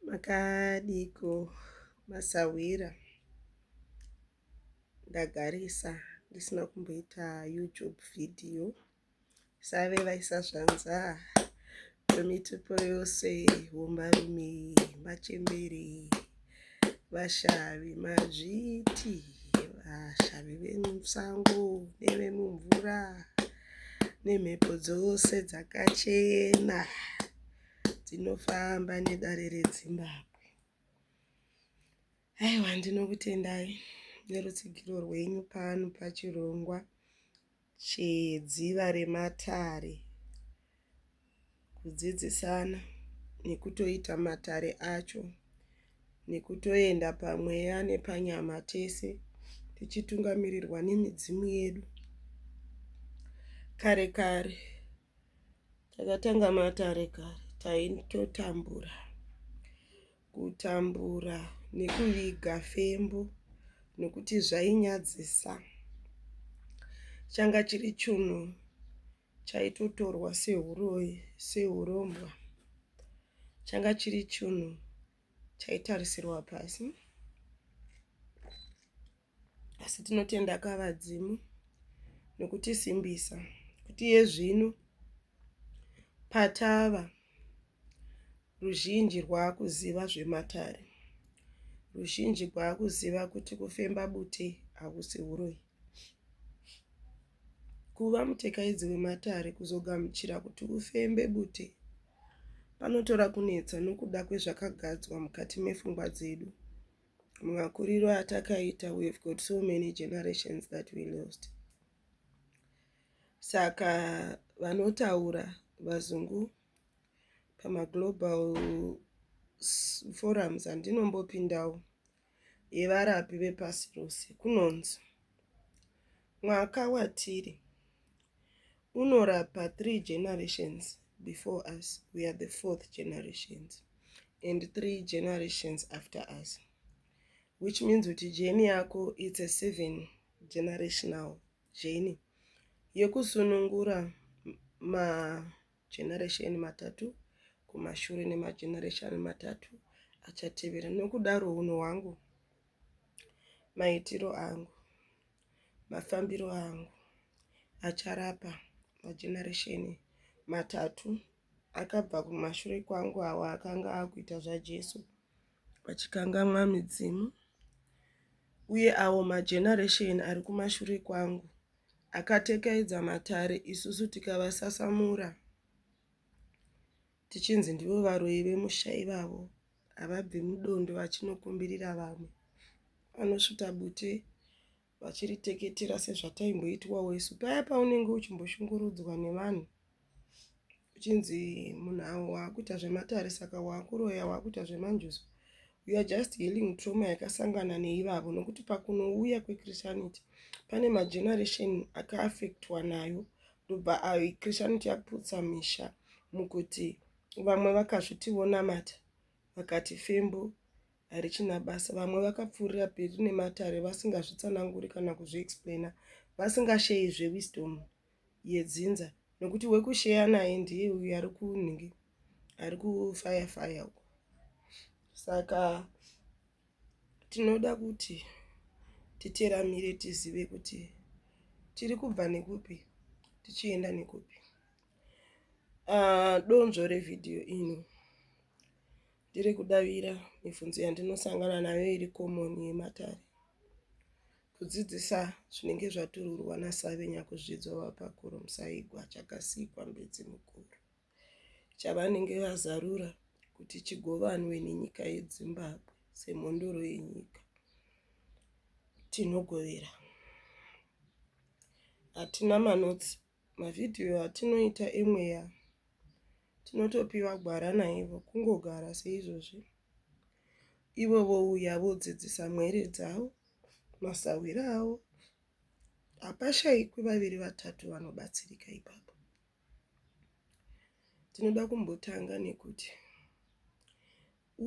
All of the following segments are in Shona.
Makadiiko masahwira ndagarisa ndisina kumboita youtube video save vaisa zvanza vemitupo yose vomarume machembere vashavi mazviti vashavi vemusango nevemumvura nemhepo dzose dzakachena. tinofamba nedare redzimbabwe aiwa ndinokutendai nerutsigiro rwenyu pano pachirongwa chedziva rematare kudzidzisana nekutoita matare acho nekutoenda pamweya nepanyama tese tichitungamirirwa nemidzimu yedu kare kare Takatanga matare kare taitotambura kutambura nekuviga fembo nokuti zvainyadzisa. Changa chiri chunhu chaitotorwa sehuroyi sehurombwa. Changa chiri chunhu chaitarisirwa pasi. Asi tinotenda kavadzimu nokutisimbisa kuti iye zvino patava ruzhinji rwaakuziva zvematare, ruzhinji rwaakuziva kuti kufemba bute hakusi uroyi. Kuva mutekaidzi wematare kuzogamuchira kuti ufembe bute panotora kunetsa nokuda kwezvakagadzwa mukati mefungwa dzedu. Mumakuriro atakaita we have got so many generations that we lost. Saka vanotaura vazungu pamaglobal forums andinombopindawo yevarapi vepasi rose kunonzi mwaka watiri unorapa three generations before us we are the fourth generations and three generations after us which means kuti jeni yako its a seven generational jeni yekusunungura mageneration matatu kumashure nemageneration matatu achatevera nokudaro unhu hwangu maitiro angu Mafambiro angu acharapa majenaresheni matatu akabva kumashure kwangu awo akanga akuita zvaJesu vachikangamwa midzimu uye awo majenaresheni ari kumashure kwangu akatekedza matare isusu tikavasasamura Tichinzi ndivo varoyi vemusha ivavo havabvi mudondo vachinokumbirira vamwe. Vanosvuta bute vachiriteketera sezvataimboitwawo isu paya paunenge uchimboshungurudzwa nevanhu uchinzi munhu awo waakuita zvematare saka waakuroya waakuita zvemanjuzu we are just healing trauma yakasangana neivavo nokuti pakunouya kwechristianity pane mageneration akaaffectwa nayo ndobva uh, christianity yakuputsa misha mukuti vamwe vakazviti vonamata vakati fembo harichina basa vamwe vakapfuurira peri nematare vasingazvitsananguri kana kuzviexplaina vasingasheyi zvewisdom yedzinza nokuti wekusheya naye ndiye uyo ari kunhingi ari kufaya faya uko saka Tinoda kuti titeramire tizive kuti tiri kubva nekupi tichienda nekupi. Donzvo revhidhiyo ino ndiri kudavira mibvunzo yandinosangana nayo iri komoni yematare kudzidzisa zvinenge zvatururwa naSavenyakuzvidzwa vabva kuRomusaigwa Chakasikwa Mbidzi Mukuru. chavanenge vazarura kuti chigovanwe nenyika yeZimbabwe semhondoro yenyika. Tinogovera. Hatina manotsi. Mavhidhiyo atinoita emweya tinotopiwa gwara naivo kungogara seizvozvi. Ivo vouya vodzidzisa mwere dzavo, masahwira avo. Hapashaikwi vaviri vatatu vanobatsirika ipapo. Tinoda kumbotanga nekuti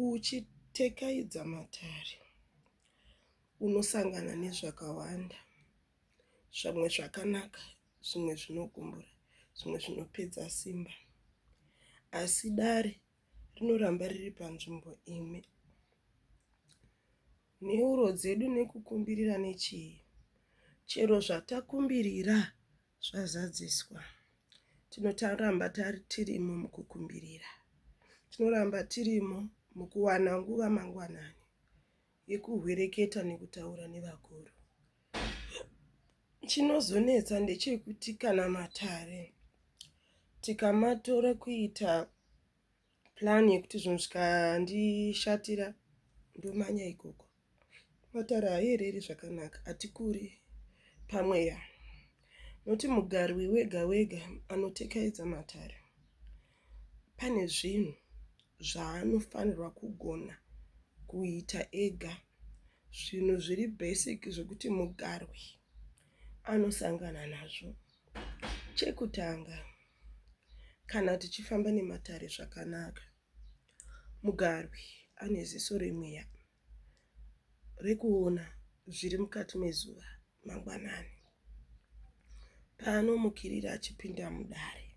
uchitekaidza matare unosangana nezvakawanda zvimwe zvakanaka zvimwe zvinogumbura zvimwe zvinopedza simba asi dare rinoramba riri panzvimbo imwe. Nheuro dzedu nekukumbirira nechii chero zvatakumbirira zvazadziswa. Tinotaramba tirimo mukukumbirira. Tinoramba tirimo mukuwana nguva mangwanani yekuhwereketa nekutaura nevakuru. Chinozonetsa ndechekuti kana matare tikamatora kuita plan yekuti zvinhu zvikandishatira ndomanya ikoko matare haiereri zvakanaka hatikuri pamweya noti mugari wewega wega anotekaidza matare pane zvinhu zvaanofanirwa kugona kuita ega zvinhu zviri basic zvekuti mugarwi anosangana nazvo Chekutanga, kana tichifamba nematare zvakanaka, mugarwi ane ziso remweya rekuona zviri mukati mezuva mangwanani paanomukirira achipinda mudare,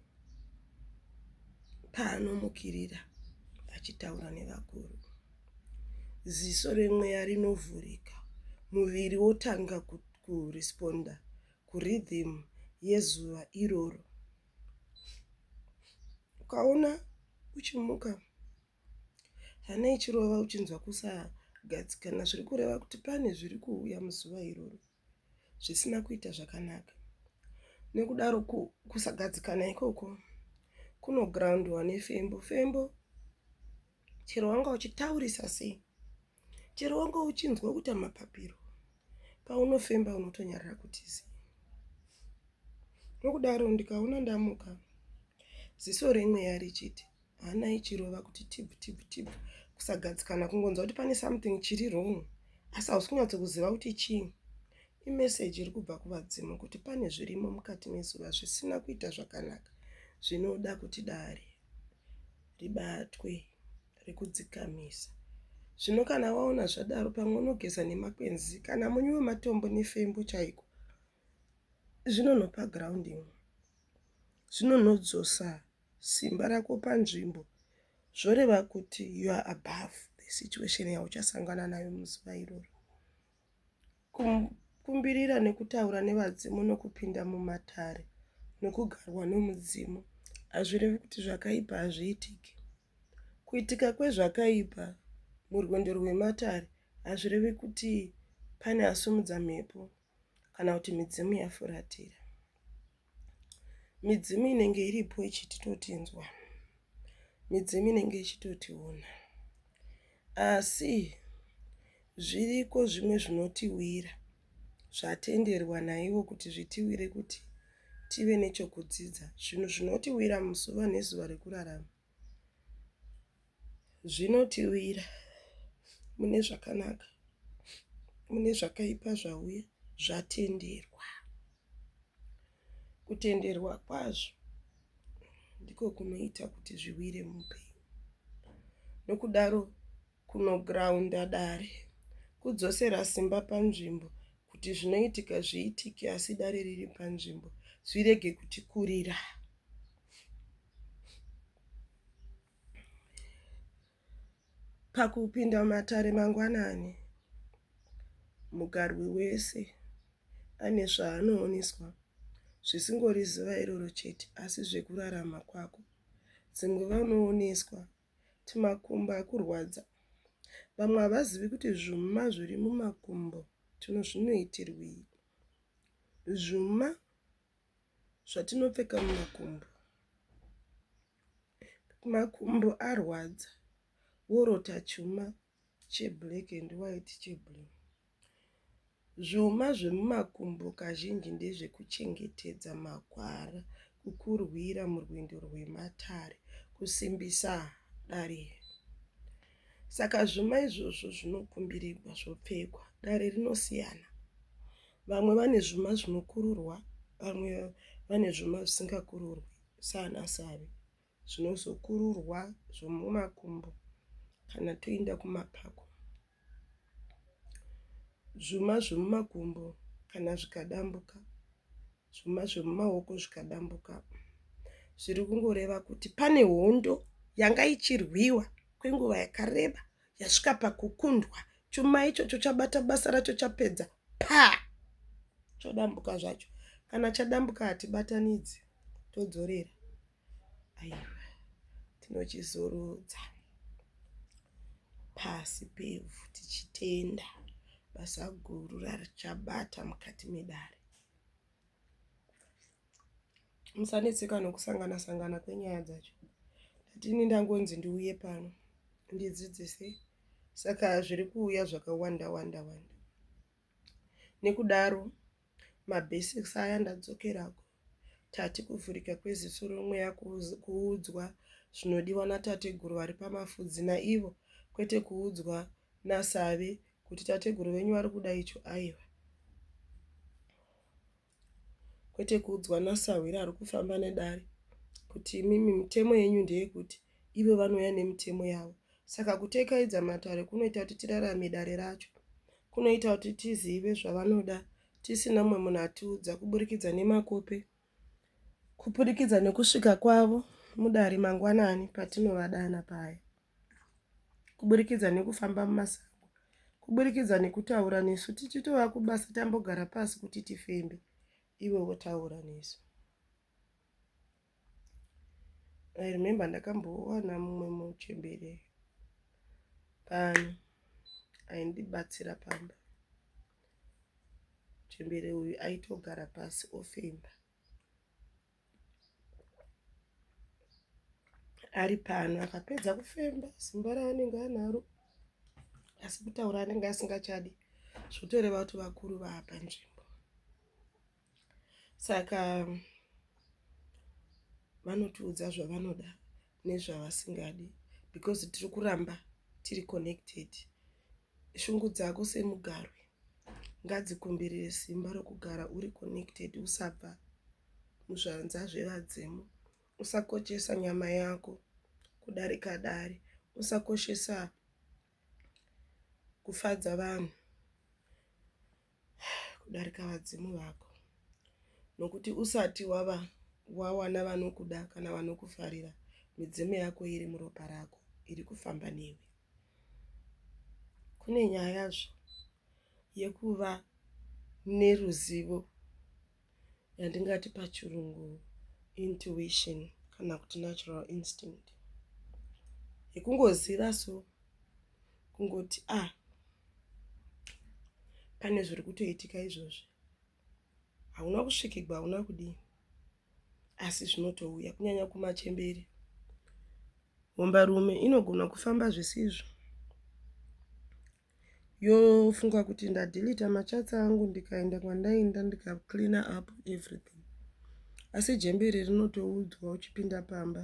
paanomukirira achitaura nevakuru. Ziso remweya rinovhurika, muviri wotanga kuresponder kurhythm yezuva iroro. Ukaona uchimuka hana ichirova uchinzwa kusagadzikana zviri kureva kuti pane zviri kuuya muzuva iroro zvisina kuita zvakanaka. Nekudaro kusagadzikana ikoko kunogroundwa nefembo. Fembo chero wanga uchitaurisa sei. Chero wanga uchinzwa kuita mapapiro, paunofemba unotonyarara kuti zii. Nokudaro ndikaona ndamuka, ziso remweya richiti hana ichirova kuti tibvu tibvu tibvu, kusagadzikana, kungonzwa kuti pane something chiri wrong asi hausi kunyatso kuziva kuti chii. Imeseji iri kubva kuvadzimu kuti pane zvirimo mukati mezuva zvisina kuita zvakanaka zvinoda kuti dare ribatwe. rekudzikamisa. Zvino kana waona zvadaro pamwe unogeza nemakwenzi kana munyu wematombo nefembo chaiko zvinonhopa ground imwe zvinonhodzosa simba rako panzvimbo zvoreva kuti you are above the situation yauchasangana nayo muzuva iroro Kukumbirira nekutaura nevadzimu nokupinda mumatare nokugarwa nomudzimu hazvirevi kuti zvakaipa hazviitiki. Kuitika kwezvakaipa murwendo rwematare hazvirevi kuti pane asumudza mhepo kana kuti midzimu yafuratira. Midzimu inenge iripo ichitotinzwa. Midzimu inenge ichitotiona. Asi zviriko zvimwe zvinotiwira zvatenderwa naivo kuti zvitiwire kuti tive nechokudzidza. Zvinhu zvinotiwira muzuva nezuva rekurarama. Zvinotiwira mune zvakanaka mune zvakaipa zvauya zvatenderwa. Kutenderwa kwazvo ndiko kunoita kuti zviwire muupenyu nokudaro Kunograunda dare, kudzosera simba panzvimbo kuti zvinoitika zviitike asi dare riri panzvimbo zvirege kutikurira. Pakupinda mumatare mangwanani, mugarwi wese ane zvaanooneswa zvisingori zuva iroro chete asi zvekurarama kwako. Dzimwe vanooneswa Timakumbo akurwadza. Vamwe havazivi kuti zvuma zviri mumakumbo tino zvinoitirwii. Zvuma zvatinopfeka mumakumbo. Makumbo arwadza worota chuma cheblack and white cheblue. Zvuma zvemumakumbo kazhinji ndezvekuchengetedza magwara, kukurwira murwendo rwematare, kusimbisa dare iri. Saka zvuma izvozvo zvinokumbirigwa zvopfekwa, dare rinosiyana. Vamwe vane zvuma zvinokururwa, vamwe vane zvuma zvisingakururwi, saana savi. zvinozokururwa zvomumakumbo kana toinda kumapako. Zvuma zvomumakumbo kana zvikadambuka, zvuma zvomumaoko zvikadambuka, zviri kungoreva kuti pane hondo yanga ichirwiwa kwenguva yakareba yasvika pakukundwa, chuma ichocho chabata basa racho chapedza pa chodambuka zvacho. Kana chadambuka hatibatanidzi, todzorera. aiwa tinochizorudza pasi pevhu tichitenda basa guru rarichabata mukati medare musanetseka nokusangana sangana kwenyaya dzacho ndatini ndangonzi ndiuye pano ndidzidzise saka zviri kuuya zvakawanda wanda wanda Nekudaro mabasics aya ndadzokera ku Tati kuvhurika kweziso remweya kuudzwa zvinodiwa natateguru vari pamafudzi naivo kwete kuudzwa naSavi kuti tateguru venyu vari kuda icho aiwa. kwete kuudzwa nasahwira ari kufamba nedare kuti imimi mitemo yenyu ndeyekuti ivo vanouya nemitemo yavo. Saka kutekaidza matare kunoita kuti tirarame dare racho. Kunoita kuti tizive zvavanoda tisina mumwe munhu atiudza kuburikidza nemakope, kuburikidza nekusvika kwavo mudare mangwanani patinovadana paya. kuburikidza nekufamba mumasango, kuburikidza nekutaura nesu tichitova kubasa tambogara pasi kuti tifembe iwe wotaura nesu. I remember ndakambowana mumwe muchembere pano aindibatsira pamba. Muchembere uyu aitogara pasi ofemba. ari pano akapedza kufemba simba raanenge anaro asi kutaura anenge asingachadi zvotoreva kuti vakuru vaapa nzvimbo saka vanotiudza zvavanoda nezvavasingadi because tiri kuramba tiri connected shungu dzako semugarwi ngadzikumbirire simba rokugara uri connected usabva muzvanza zvevadzimu usakochesa nyama yako kudarika dare usakoshesa kufadza vanhu kudarika vadzimu vako nokuti usati wava wawana vanokuda kana vanokufarira midzimu yako iri muropa rako iri kufamba newe kune nyaya zvo yekuva neruzivo yandingati pachirungu intuition kana kuti natural instinct yekungoziva so kungoti a ah, pane zviri kutoitika izvozvi hauna kusvikigwa hauna kudii asi zvinotouya kunyanya kumachemberi hombarume inogona kufamba zvisizvo yofunga kuti ndadhilita machats angu ndikaenda kwandainda ndikacleana up everything asi jembe iri rinotoudzwa uchipinda pamba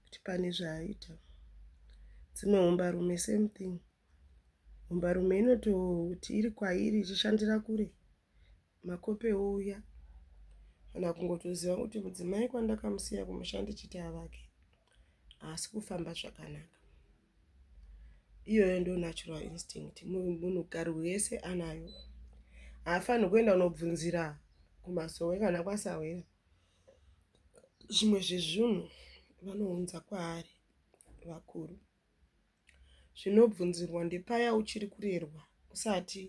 kuti pane zvaaita dzimwe humbarume same thing humbarume inototi iri kwairi ichishandira kure Makope ouya kana kungotoziva kuti mudzimai kwandakamusiya kumusha ndichiti avake haasi kufamba zvakanaka. Iyoyo ndo natural instinct munhukadzi wese anayo. Haafanirwi kuenda kunobvunzira kumasowe kana kwasahwira zvimwe zvezvinhu vanounza kwaari vakuru. Zvinobvunzirwa ndepaya uchiri kurerwa usati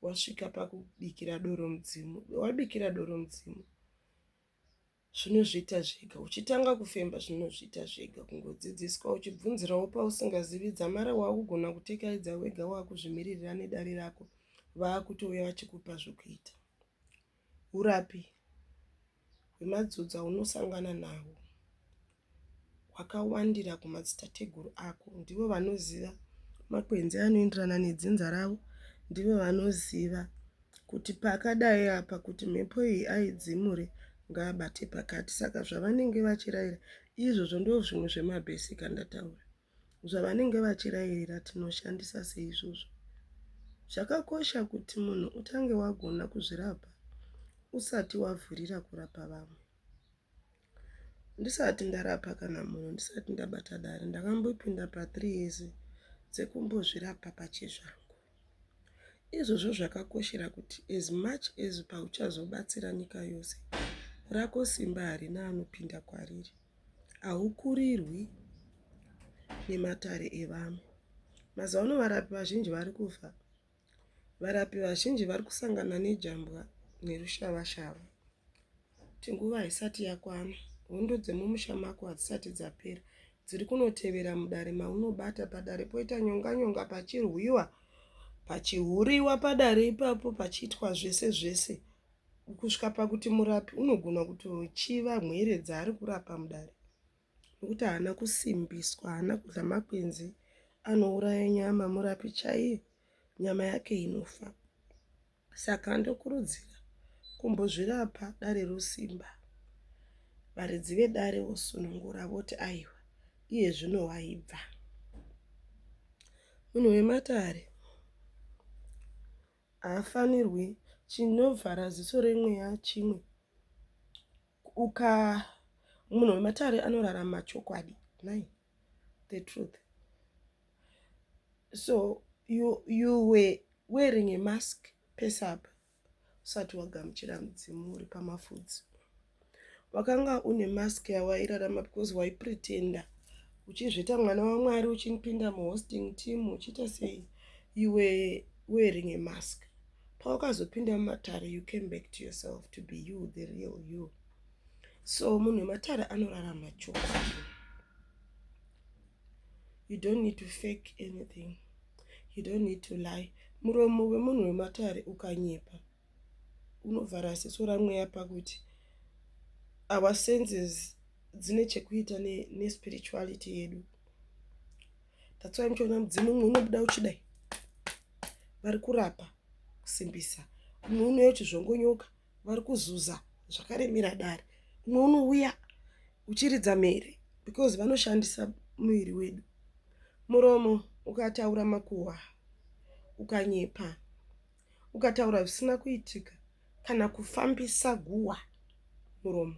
wasvika pakubikira doro mudzimu. Wabikira doro mudzimu zvinozviita zvega. Uchitanga kufemba zvinozviita zvega kungodzidziswa uchibvunzirawo pausingazivi dzamara waakugona kutekaidza wega waakuzvimiririra nedare rako vaakutouya vachikupa zvokuita. Urapi hwemadzodza aunosangana nahwo hwakawandira kumadzitateguru ako. Ndivo vanoziva makwenzi anoenderana nedzinza ravo. Ndivo vanoziva kuti pakadai apa kuti mhepo iyi aidzimure ngaabate pakati. Saka zvavanenge vachiraira izvozvo ndozvimwe zvemabhesika ndataura. Zvavanenge vachirayira tinoshandisa sei izvozvo? Zvakakosha kuti munhu utange wagona kuzvirapa usati wavhurira kurapa vamwe. Ndisati ndarapa kana munhu, ndisati ndabata dare, ndakambopinda pathree years dzekumbozvirapa pachezvangu. Izvozvo zvakakoshera kuti as much as pauchazobatsira nyika yose, rako simba harina anopinda kwariri. haukurirwi nematare evamwe. Mazuva ano varapi vazhinji vari kufa. Varapi vazhinji vari kusangana nejambwa nerushava-shava. Kuti nguva haisati yakwana, hondo dzemumusha mako hadzisati dzapera. Dziri kunotevera mudare maunobata padare poita nyonga-nyonga pachirwiwa, pachihuriwa padare ipapo pachiitwa zvese zvese. kusvika pakuti murapi unogona kutochiva mhere dzaari kurapa mudare nokuti haana kusimbiswa haana kudla makwenzi anouraya nyama murapi chaiye nyama yake inofa saka ndokurudzira kumbozvirapa dare rosimba varidzi vedare vosunungura voti aiwa iye zvino waibva munhu wematare haafanirwi chinovhara ziso remweya chimwe uka munhu wematare anorarama chokwadi nai the truth so you, you were wearing a mask pese apa usati wagamuchira mudzimu uri pamafudzi Wakanga une mask yawairarama because wai pretender uchizviita mwana waMwari uchipinda muhosting team uchiita sei you were wearing a mask. Pawakazopinda mumatare you came back to yourself to be you the real you. So munhu wematare anorarama chokwadi. You don't need to fake anything. You don't need to lie. Muromo wemunhu wematare ukanyepa unovhara ziso ramweya pakuti our senses dzine chekuita nespirituality yedu that's why muchiona mudzimu umwe unobuda uchidai vari kurapa kusimbisa umwe unouya uchizvongonyoka vari kuzuza zvakaremera dare umwe unouya uchiridza mhere because vanoshandisa muviri wedu muromo ukataura makuhwa ukanyepa ukataura zvisina kuitika kana kufambisa guhwa muromo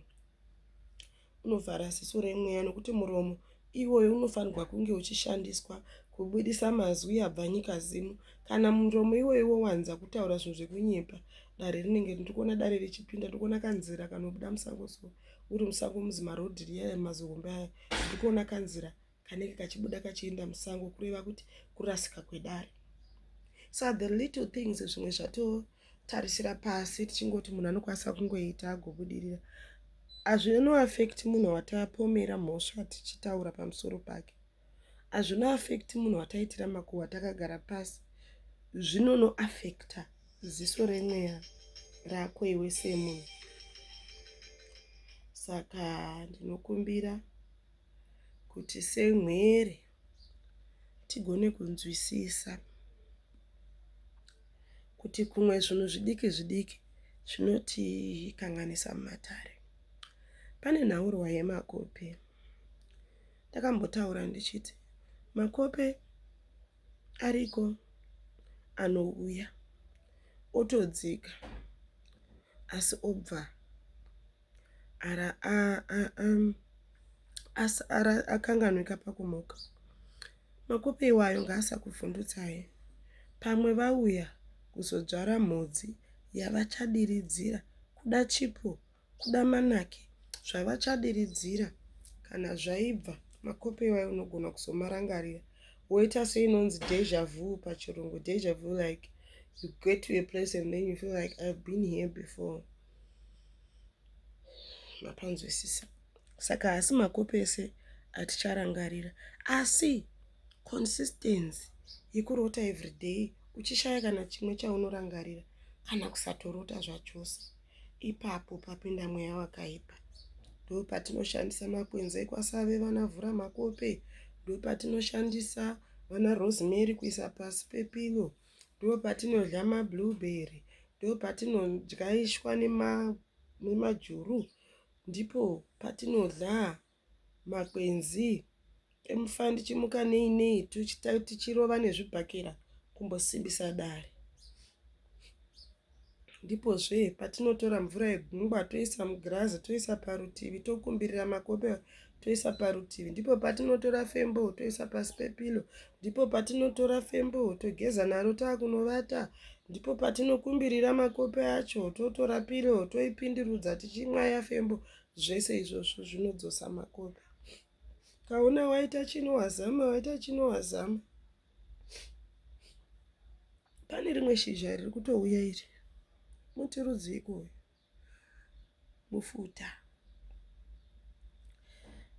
unovhara ziso remweya nokuti muromo iwoyo unofanirwa kunge uchishandiswa kubudisa mazwi abva nyika zimu kana muromo iwoyo wowanza kutaura zvinhu zvekunyepa dare rinenge ndikuona dare richipinda ndikuona kanzira kanobuda musango so uri musango muzima rodhi riya mazihombe aya ndikuona kanzira kanenge kachibuda kachienda musango kureva kuti kurasika kwedare so the little things zvimwe zvatotarisira pasi tichingoti munhu anokwanisa kungoita agobudirira hazvinoaffect munhu watapomera mhosva tichitaura pamusoro pake hazvino affect munhu wataitira makuhwa takagara pasi zvinonoaffecta ziso remweya rako iwe semunhu saka ndinokumbira kuti semhuri tigone kunzwisisa kuti kumwe zvinhu zvidiki zvidiki zvinotikanganisa mumatare. Pane nhaurwa yemakope. Ndakambotaura ndichiti makope ariko anouya otodzika asi obva akanganwika pakumuka. Makupe iwayo ngaasakuvhundutsai. Pamwe vauya kuzodzvara mhodzi yavachadiridzira, kuda chipo, kuda manake, zvavachadiridzira. Kana zvaibva, makupe iwayo unogona kuzomarangarira woita seinonzi deja vu pachirungu. Deja vu like you get to a place and then you feel like I've been here before. mapanzwisisa saka haasi makopi ese aticharangarira asi consistency yekurota everyday uchishaya kana chimwe chaunorangarira kana kusatorota zvachose ipapo papinda mweya wakaipa ndopatinoshandisa makwenzi ekwasave vana vhura makope ndopatinoshandisa vana rosemary kuisa pasi pepilo pa ndopatinodya mablueberry ndopatinodyaiswa nemajuru ndipo patinodya makwenzi tomufawo tichimuka nei nei tichirova nezvibhakera kumbosimbisa dare. Ndipozve patinotora mvura yegungwa toisa mugirazi toisa parutivi tokumbirira makope toisa parutivi. Ndipo patinotora fembo toisa pasi pepilo. Ndipo patinotora fembo togeza naro takunovata. Ndipo patinokumbirira makope acho totora pilo toipindirudza tichimwaya fembo. Zvese izvozvo zvinodzosa makope. Kaona waita chino wazama, waita chino wazama. pane rimwe shizha riri kutouya iri muti rudziiko uyu mufuta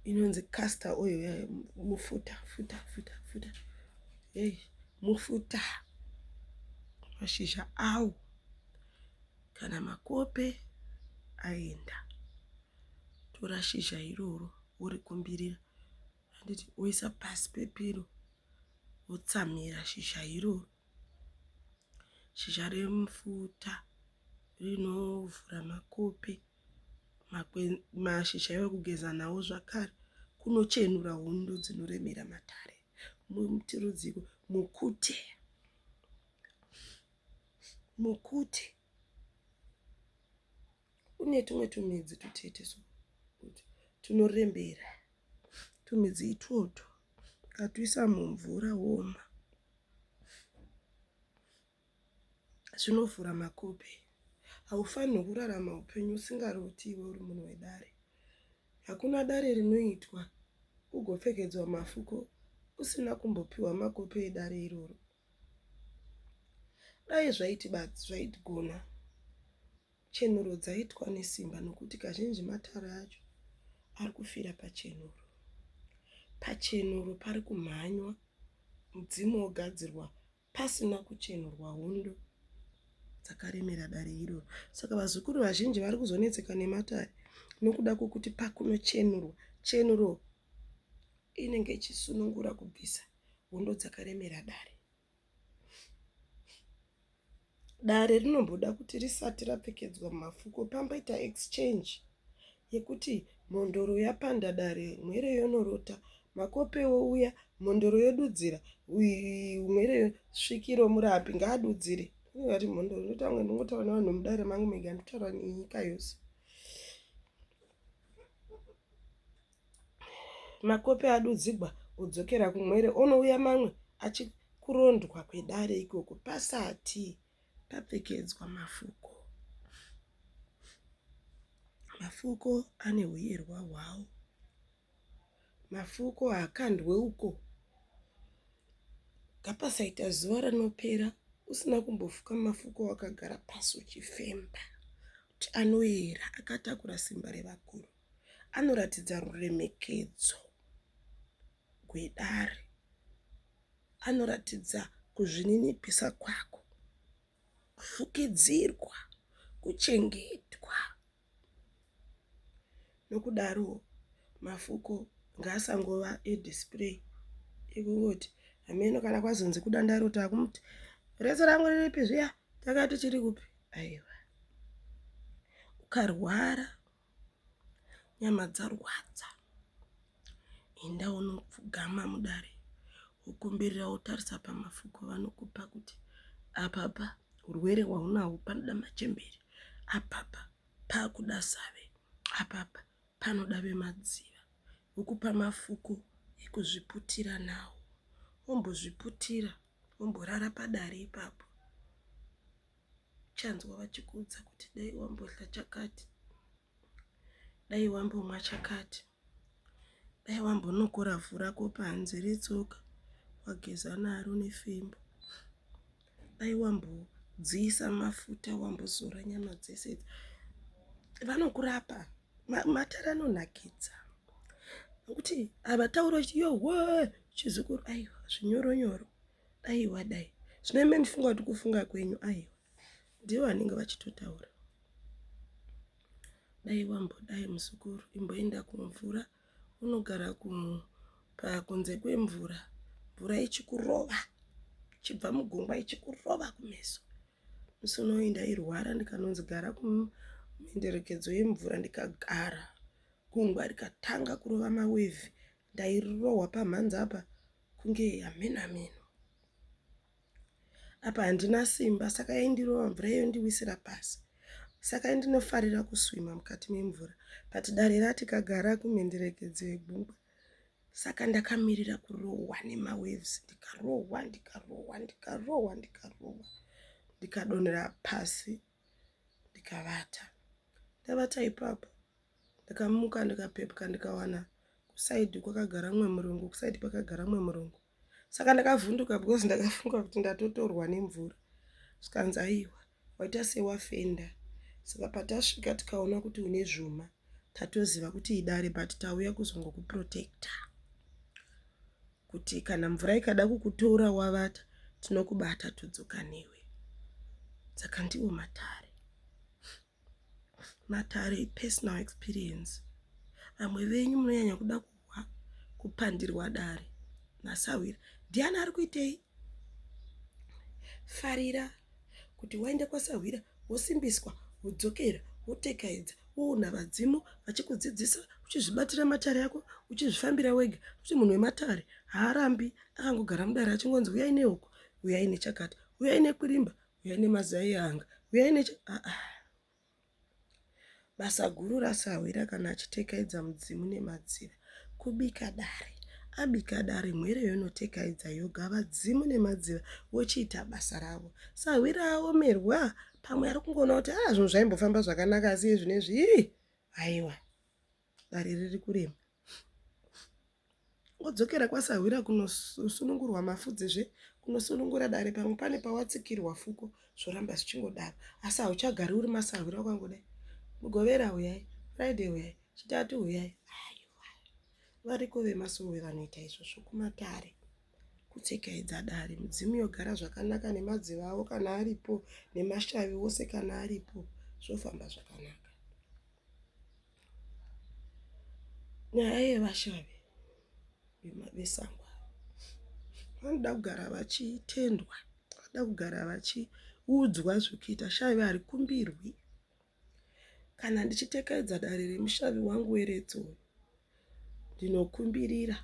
inonzi caster oil eh, mufuta futa futa futa hey, mufuta mashizha awo kana makope aenda tora shizha iroro worikumbirira Handiti oisa pasi pepiro otsamira shizha iroro. Shizha remufuta rinovhura makope, mashizha ekugeza nawo zvakare kunochenura hondo dzinoremera matare. Muti rudziko mukute. Mukute. Kune tumwe tumidzi tutete so tunorembera. Tumidzi itwotwo ukatuisa mumvura woma zvinovhura makope. Haufanirwi kurarama upenyu usingaroti iwe uri munhu wedare. Hakuna dare rinoitwa ugopfekedzwa mafuko usina kumbopiwa makope edare iroro. Dai zvaiti basi zvaigona. Chenuro dzaitwa nesimba nokuti kazhinji matare acho ari kufira pachenuro. Pachenuro pari kumhanywa mudzimu wogadzirwa pasina kuchenurwa hondo dzakaremera dare iroro. Saka vazukuru vazhinji vari kuzonetseka nematare nokuda kwokuti pakunochenurwa, chenuro inenge ichisunungura kubvisa hondo dzakaremera dare. Dare rinomboda kuti risati rapfekedzwa mafuko pamboita exchange yekuti mhondoro yapanda dare mhere yonorota, makope ouya mhondoro yodudzira mhere svikiro murapi ngaadudzire. Ungati mhondoro unoita kunge ndinongotaura nevanhu vemudare mangu mega ndinotaura nenyika yose. Makope adudzigwa odzokera kumwere onouya mamwe achikurondwa kwedare ikoko pasati papfekedzwa mafuko. Mafuko ane huyerwa hwawo. Mafuko haakandwe uko. Ngapasaita zuva rinopera usina kumbofuka mafuko wakagara pasi uchifemba kuti anoera akatakura simba revakuru. anoratidza ruremekedzo gwedare anoratidza kuzvininipisa kwako kufukidzirwa kuchengetwa nokudaro mafuko ngaasangova edisplay ekungoti hameno kana kwazonzi kudanda iro takumuti redzo rangu riripi zviya takati chiri kupi aiwa ukarwara Nyama dzarwadza. Enda unopfugama mudare wokumbirira wotarisa pamafuko vanokupa kuti apapa hurwere hwaunahwo panoda machembere, apapa pakuda save, apapa panoda vemadziva. Vokupa mafuko ekuzviputira nawo. Wombozviputira womborara padare ipapo. uchanzwa vachikuudza kuti dai wambodya chakati dai wambomwa chakati dai wambonokora vhu rako panze retsoka wageza naro nefimbo dai wambodziisa mafuta wambozora nyama dzese idzi vanokurapa matare anonakidza nokuti havatauri kuti yowe chizukuru aiwa zvinyoronyoro Aiwa dai. Zvino imi mufunga kuti kufunga kwenyu aiwa. Ndivo vanenge vachitotaura. Dai wambodai muzukuru imboenda kumvura unogara kunze kwemvura mvura ichikurova chibva mugungwa ichikurova kumeso musi unoyi ndairwara ndikanonzi gara kumhenderekedzo yemvura ndikagara gungwa rikatanga kurova mawevhi Ndairohwa pamhanza apa kunge hamena meno. Apa handina simba saka yaindirova mvura yondiwisira pasi. Saka yandinofarira kuswima mukati memvura but dare rati kagara kumhenderekedzo yegungwa. Saka ndakamirira kurohwa nemawaves ndikarohwa ndikarohwa ndikarohwa ndikarohwa ndikadonera pasi. Ndika ndikavata. Ndavata ipapo ndakamuka ndikapepuka ndikawana kusaidhi kwakagara mumwe murungu kusaidhi kwakagara mumwe murungu. Saka ndakavhunduka because ndakafunga kuti ndatotorwa nemvura. Zvikanzi aiwa waita sewafenda. Saka patasvika tikaona kuti une zvuma tatoziva kuti idare but tauya kuzongokuprotector. kuti kana mvura ikada kukutora wavata tinokubata todzoka newe saka ndiwo matare matare ipersonal experience vamwe venyu munonyanya kuda kuhwa kupandirwa dare nasahwira ndiani ari kuitei farira kuti waende kwasahwira wosimbiswa, wodzokera, wotekaidza, woona vadzimu vachikudzidzisa, uchizvibatira matare ako, uchizvifambira wega, nokuti munhu wematare haarambi akangogara mudare achingonzi uyai nehuku, uyai nechakati, uyai nekwirimba, uyai nemazai eanga, uyai necha, aa. Basa guru rasahwira kana achitekaidza mudzimu nemadziva. Kubika dare. Abika dare mhere yonotekaidza yoga vadzimu nemadziva vochiita basa ravo. Sahwira aomerwa pamwe ari kungoona kuti haa zvinhu zvaimbofamba zvakanaka asi izvi nezvi ii haiwa. Dare riri kurema. Wodzokera kwasahwira kunosunungurwa mafudzi zve kunosunungura dare pamwe pane pawatsikirwa fuko zvoramba zvichingodaro asi hauchagari uri masahwira ukangodai mugovera huyai friday huyai chitatu huyai aiwa variko vemasowe vanoita izvozvo kumatare kutsekaidza dare mudzimu yogara zvakanaka nemadziva avo kana aripo nemashavi wose kana aripo zvofamba zvakanaka Nyaya yevashavi vesango ava vanoda kugara vachitendwa, vanoda kugara vachiudzwa zvekuita. Shavi harikumbirwi. Kana ndichitekedza dare remushavi wangu weretso ndinokumbirira.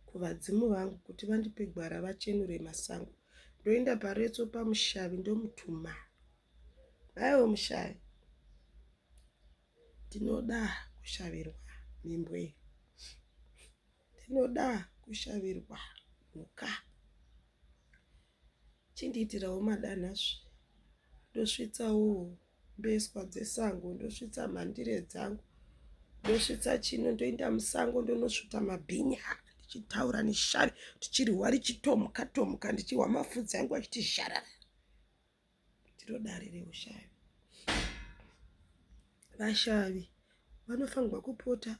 kuvadzimu vangu kuti vandipe gwara vachenure masango ndoenda paretso pamushavi ndomutuma aiwo mushavi ndinoda kushavirwa mimbwe ndinoda kushavirwa mhuka Chindiitirawo madanhazve ndosvitsawo mbeswa dzesango ndosvitsa mhandire dzangu ndosvitsa chino ndoenda musango ndonosvuta mabhinya ndichitaura neshave tichirihwa richitomuka tomuka ndichihwa mafudzi angu achiti zharara ndiro dare reushavi vashavi vanofanirwa kupota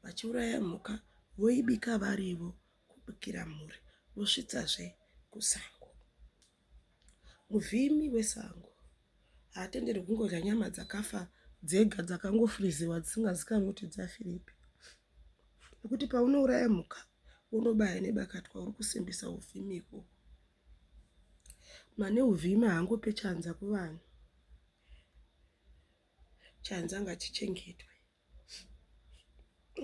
vachiuraya mhuka voibika varivo kubikira mhuri vosvitsazve kusango. Muvhimi wesango haatenderwi kungodya nyama dzakafa dzega dzakangofriziwa dzisingazikanwi kuti dzafiripi nekuti paunouraya mhuka unobaya nebakatwa uri kusimbisa uvhimi ikoko mane uvhimi haangope chanza kuvanhu chanza ngachichengetwe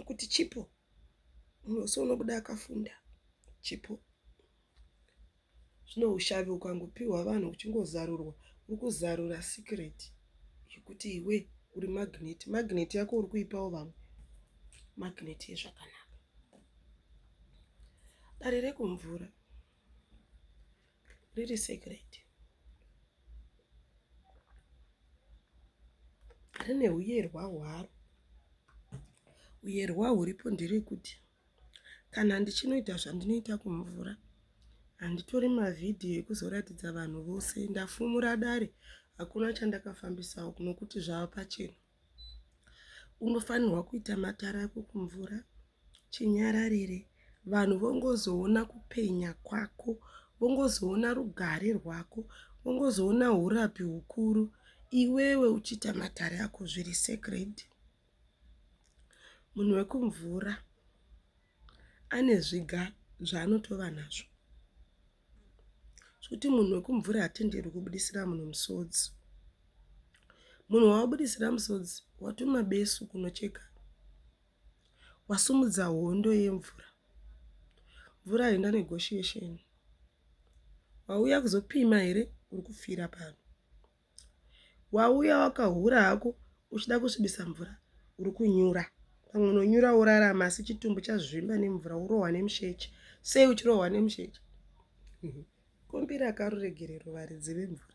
kuti chipo munhu wese unobuda akafunda chipo zvine ushavi ukangopiwa vanhu uchingozarurwa uri kuzarura secret yekuti iwe uri magnet magnet yako uri kuipawo vamwe magnet yezvakanaka dare rekumvura riri secret rine uyerwa hwaro uyerwa huripo nderekuti kana ndichinoita zvandinoita kumvura handitori mavhidhiyo ekuzoratidza vanhu vose ndafumura dare hakuna chandakafambisawo nokuti zvava pachena Unofanirwa kuita matare ako kumvura chinyararire vanhu vongozoona kupenya kwako, vongozoona rugare rwako, vongozoona hurapi hukuru iwewe uchiita matare ako zviri sacred. Munhu wekumvura ane zviga zvaanotova nazvo. zvekuti munhu wekumvura haatenderwi kubudisira munhu musodzi. Munhu wawabudisira musodzi watuma besu kunocheka, wasimudza hondo yemvura. Mvura haina negoshiyesheni. Wauya kuzopima here uri kufira pano. Wauya wakahura hako uchida kusvibisa mvura uri kunyura. Pamwe unonyura worarama asi chitumbu chazvimba nemvura worohwa nemusheche. Sei uchirohwa nemusheche? Mhm. Kombi rakaruregerero varidzi vemvura.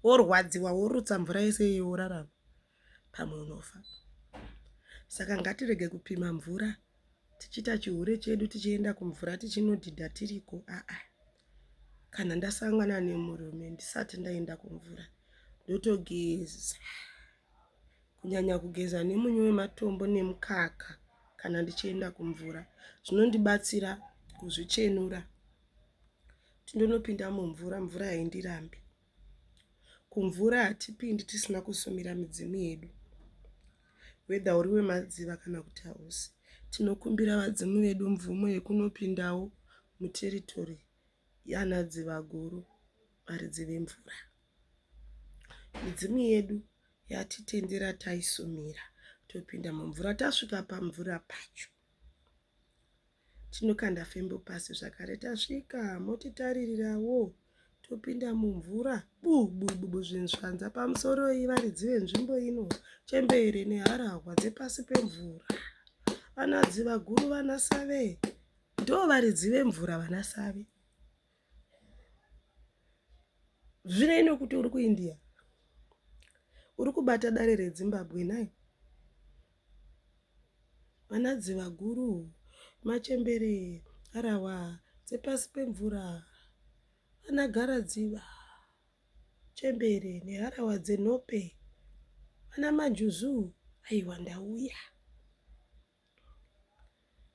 Worwadziwa worutsa mvura yese iyoyo worarama. pamwe unofa. Saka ngatirege kupima mvura tichiita chihure chedu tichienda kumvura tichinodhidha tiriko aa kana ndasangana nemurume ndisati ndaenda kumvura ndotogeza kunyanya kugeza nemunyu wematombo nemukaka kana ndichienda kumvura zvinondibatsira kuzvichenura tindonopinda mumvura mvura yaindirambi Kumvura hatipindi tisina kusumira midzimu yedu whether uri wemadziva kana kuti hausi. Tinokumbira vadzimu vedu mvumo yekunopindawo muteritory yana Dzivaguru varidzi vemvura. Midzimu yedu yatitendera taisumira topinda mumvura tasvika pamvura pacho. Tinokanda fimbo pasi zvakare tasvika motitaririrawoo topinda mumvura bubububu zvinzvanza pamusoro ivaridzi venzvimbo ino chembere neharahwa dzepasi pemvura vanadzi vaguru vanasave ndo varidzi vemvura vanasave Zvinei nokuti uri kuIndia, uri kubata dare reZimbabwe nhai? Vana dzivaguru, machembere, harahwa dzepasi pemvura, vana garadziva, chembere neharahwa dzenhope, vana manjuzu, aiwa ndauya.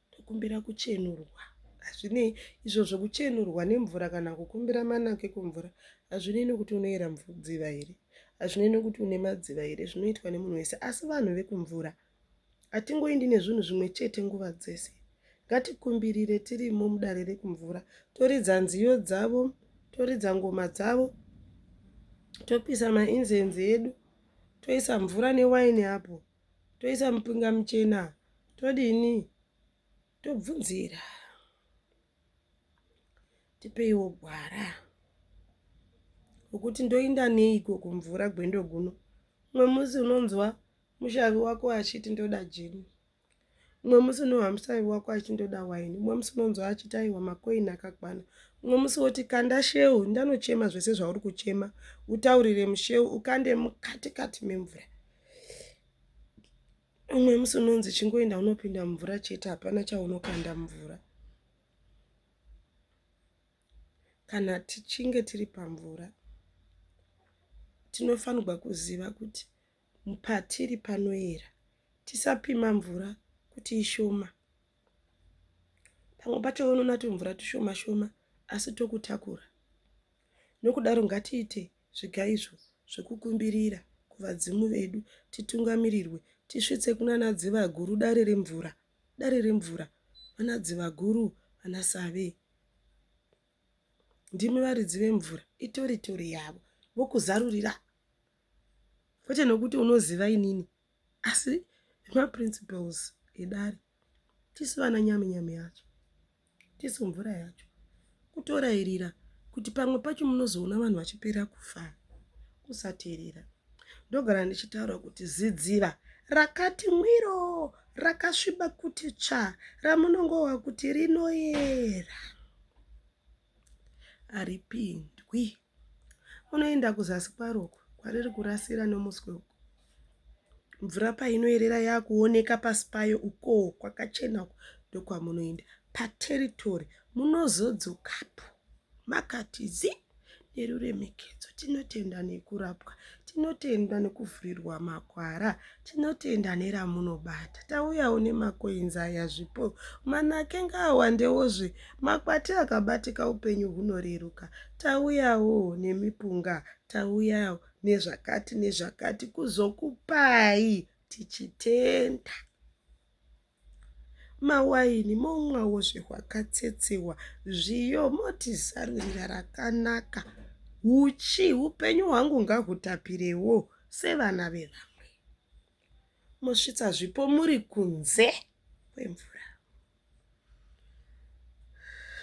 Ndokumbira kuchenurwa. Hazvinei izvozvo kuchenurwa nemvura kana kukumbira manako ekumvura hazvinei nokuti unoyera dziva here, hazvinei nokuti une madziva here, zvinoitwa nemunhu wese. Asi vanhu vekumvura hatingoindi nezvinhu zvimwe chete nguva dzese. Ngatikumbirire tirimo mudare rekumvura, toridza nziyo dzavo, toridza ngoma dzavo, topisa mainzenzi edu, toisa mvura newaini apo. toisa mupinga muchena todini tobvunzira tipeiwo gwara rokuti ndoinda neiko kumvura gwendo guno umwe musi unonzwa mushavi wako achiti ndoda jini umwe musi unohwa mushavi wako achiti ndoda waini umwe musi unonzwa achiti aiwa makoini akakwana umwe musi woti kanda sheu ndanochema zvese zvauri kuchema utaurire musheu ukande mukatikati memvura umwe musi unonzi chingoenda unopinda mumvura chete hapana chaunokanda mumvura kana tichinge tiri pamvura tinofanirwa kuziva kuti patiri panoyera tisapima mvura kuti ishoma pamwe pacho unoona kuti mvura tushoma shoma asi tokutakura nokudaro ngatiite Zviga izvo zvokukumbirira kuvadzimu vedu titungamirirwe tisvitse kunana dzivaguru dare remvura dare remvura vana dzivaguru vana save ndimi varidzi vemvura itori tori yavo vokuzarurira kwete nokuti unoziva inini asi maprinciples edare tisu vana nyami nyami yacho tisu mvura yacho kutorairira kuti pamwe pacho munozoona vanhu vachipera kufa kusateerera ndogara ndichitaura kuti zidziva rakati mwiro rakasviba kuti tsva ramunongova kuti rinoyera haripindwi. Unoenda kuzasi kwaro uko kwariri kurasira nomuswe uko. Mvura painoerera yakuoneka pasi payo ukoo kwakachena uko ndokwamunoenda. Pateritori munozodzokapo makati zii neruremekedzo. Tinotenda nekurapwa. Tinotenda nekuvhurirwa makwara, tinotenda neramunobata. Tauyawo nemacoins aya zvipo. Manake ngaawandewozve. Makwati akabatika upenyu hunoreruka. Tauyawo nemipunga, tauyawo nezvakati nezvakati kuzokupai tichitenda. Mawaini momwawo zvewakatsetsehwa, zviyo moti zarurira rakanaka. Huchi hupenyu hwangu ngahutapirewo sevana vevamwe. Mosvitsa zvipo muri kunze kwemvura.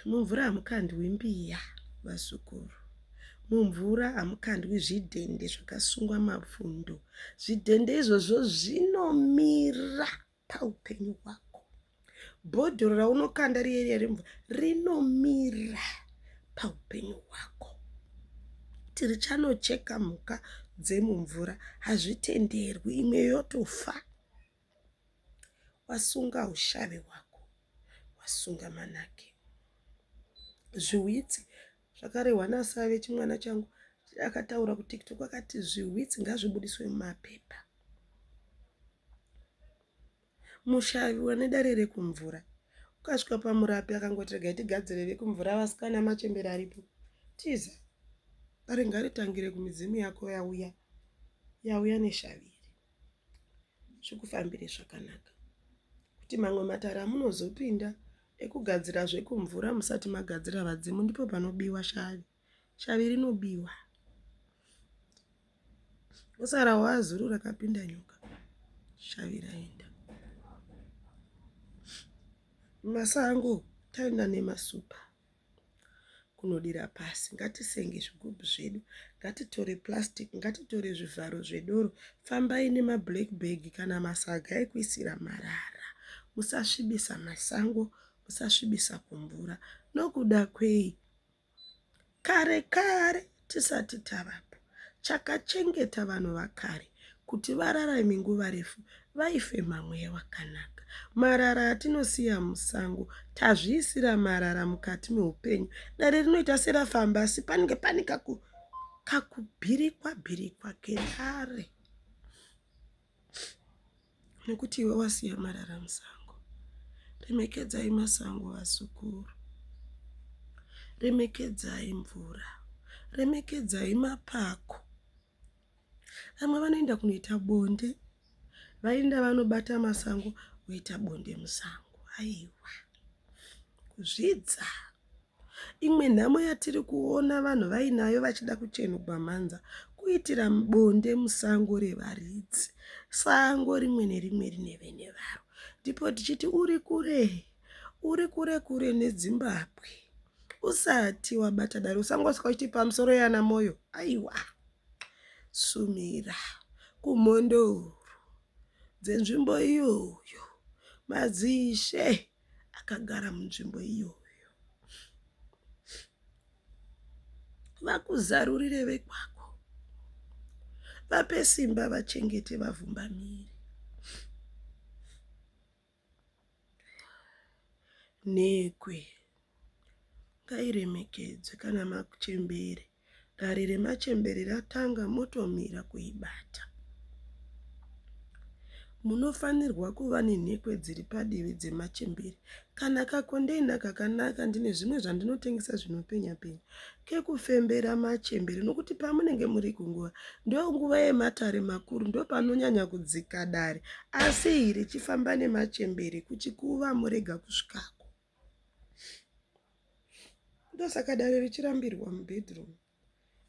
Mumvura hamukandwi mbiya, vazukuru. Mumvura hamukandwi zvidhende zvakasungwa mapfundo. Zvidhende izvozvo zvinomira. paupenyu hwako. Bhodhoro raunokanda riye riye remvura rinomira paupenyu hwako. Tiri chanocheka mhuka dzemumvura hazvitenderwi, imwe yotofa. Wasunga ushave hwako, wasunga manake. Zviwitsi Zvakarehwa naSave chimwana changu akataura kuTikTok akati zvihwitsi ngazvibudiswe mumapepa. Mushavi wane dare rekumvura ukasvika pamurapi akangoti regai tigadzire vekumvura vasikana machembere aripo tiza dare ngaritangire kumidzimu yako yauya yauya neshavi iri. zvikufambire zvakanaka kuti mamwe matare amunozopinda ekugadzira zvekumvura musati magadzira vadzimu ndipo panobiwa shavi shavi rinobiwa usara wazuru rakapinda nyoka shavi raenda masango taenda nemasupa kunodira pasi ngatisenge zvigubhu zvedu ngatitore plastic ngatitore zvivharo zvedoro fambai nema black bag kana masaga ekuisira marara musasvibisa masango musasvibisa kumvura nokuda kwei kare kare. Tisati tavapo, chakachengeta vanhu vakare kuti vararame nguva refu vaifema mweya wakanaka. Marara atinosiya musango, tazviisira marara mukati meupenyu. Dare rinoita serafamba asi panenge pane kakubhirikwa bhirikwa kedare. Nokuti iwe wasiya marara musango. Remekedzai masango vazukuru. Remekedzai mvura. Remekedzai mapako. Vamwe vanoenda kunoita bonde vaenda vanobata masango voita bonde musango. Aiwa kuzvidza. Imwe nhamo yatiri kuona vanhu vainayo vachida kuchenugwa mhanza kuitira bonde musango revaridzi. Sango rimwe nerimwe rine vene varo. Ndipo tichiti uri kure, uri kure kure neDzimbabwe. Usati wabata dare usangosvika uchiti pamusoro yana Moyo. Aiwa. Sumira kumhondoro dzenzvimbo iyoyo. Madzishe akagara munzvimbo iyoyo. Vakuzarurire vekwako, vape simba vachengete vavhumbamiri. Nhekwe ngairemekedzwe kana makuchembere Dare remachembere ratanga motomira kuibata. Munofanirwa kuva nenhekwe dziri padivi dzemachembere. Kana kakondeina kakanaka ndine zvimwe zvandinotengesa zvinopenya penya kekufembera machembere nokuti pamunenge muri kunguva ndonguva yematare makuru ndopanonyanya kudzika dare asi iri chifamba nemachembere kuchikuva morega kusvikako. Ndosaka dare richirambirwa mubedroom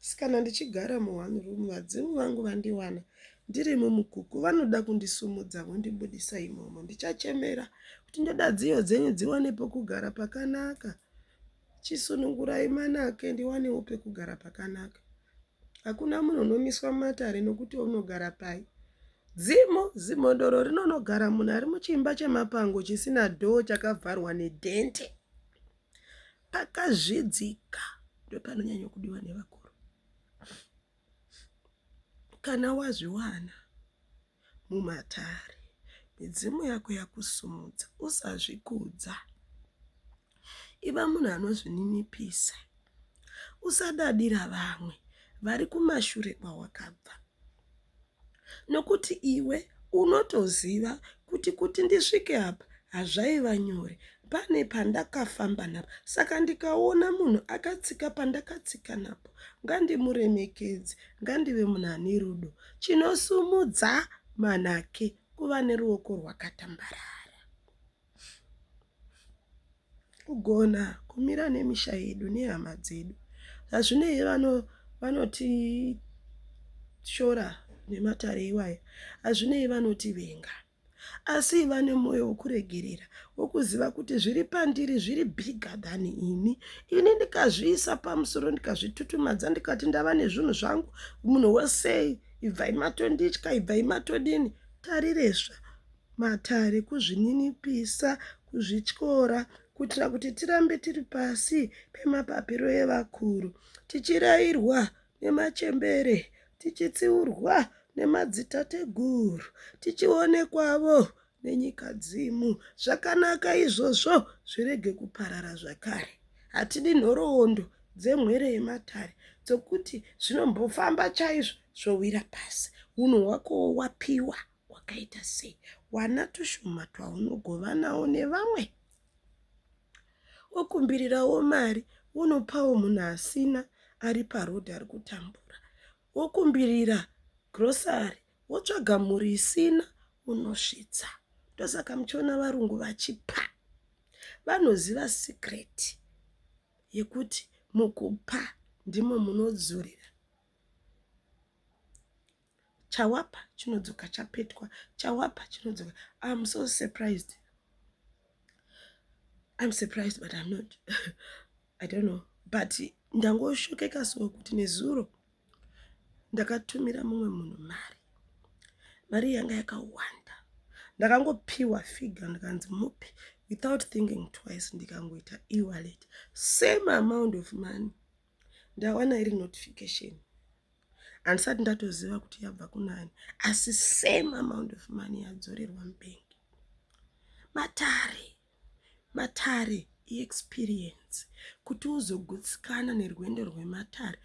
asi kana ndichigara mu one room vadzimu vangu vandiwana ndiri mumukuku vanoda kundisumudza vondibudisa imomo ndichachemera kuti ndoda dziyo dzenyu dziwane pokugara pakanaka chisunungurai manake ndiwanewo pekugara pakanaka Hakuna munhu unomiswa mumatare nokuti unogara pai. Dzimu, zimhondoro rinonogara munhu ari muchimba chemapango chisina dhoo chakavharwa nedhende. Pakazvidzika ndopanonyanya kudiwa nevakuru. Kana wazviwana mumatare, midzimu yako yakusimudza. Usazvikudza, iva munhu anozvininipisa. Usadadira vamwe vari kumashure kwawakabva, nokuti iwe unotoziva kuti kuti ndisvike apa hazvaiva nyore pane pandakafamba napo saka ndikaona munhu akatsika pandakatsika napo ngandimuremekedze ngandive munhu ane rudo Chinosumudza manake kuva neruoko rwakatambarara. Kugona kumira nemisha yedu nehama dzedu hazvinei vano vanotishora nematare iwaya hazvinei vanotivenga. Asi iva nemwoyo wokuregerera, wokuziva kuti zviri pandiri zviri bigger than ini. Ini ndikazviisa pamusoro ndikazvitutumadza ndikati ndava nezvinhu zvangu, munhu wose ibvai matonditya, ibvai matodini. Tariresva matare kuzvininipisa, kuzvityora kuitira kuti tirambe tiri pasi pemapapiro evakuru tichirairwa nemachembere, tichitsiurwa nemadzitateguru, tichionekwavo nenyikadzimu. Zvakanaka izvozvo, zvirege kuparara zvakare. Hatidi nhoroondo dzemhere yematare dzokuti zvinombofamba chaizvo zvowira pasi. Unhu hwakowo wapiwa hwakaita sei? Wana tushoma twaunogovanawo nevamwe. wokumbirirawo mari wonopawo munhu asina ari paroad ari kutambura wokumbirira grocery wotsvaga mhuri isina unosvitsa ndosaka muchiona varungu vachipa vanoziva secret yekuti mukupa ndimo munodzorera chawapa chinodzoka chapetwa chawapa chinodzoka im so surprised im surprised but im not i don't know but ndangoshokeka so kuti nezuro ndakatumira mumwe munhu mari mari yanga yakawanda ndakangopiwa figure ndikanzi mupi without thinking twice ndikangoita ewalet same amount of money ndawana iri notification handisati ndatoziva kuti yabva kunani asi same amount of money yadzorerwa mubank matare matare iexperience kuti uzogutsikana nerwendo rwematare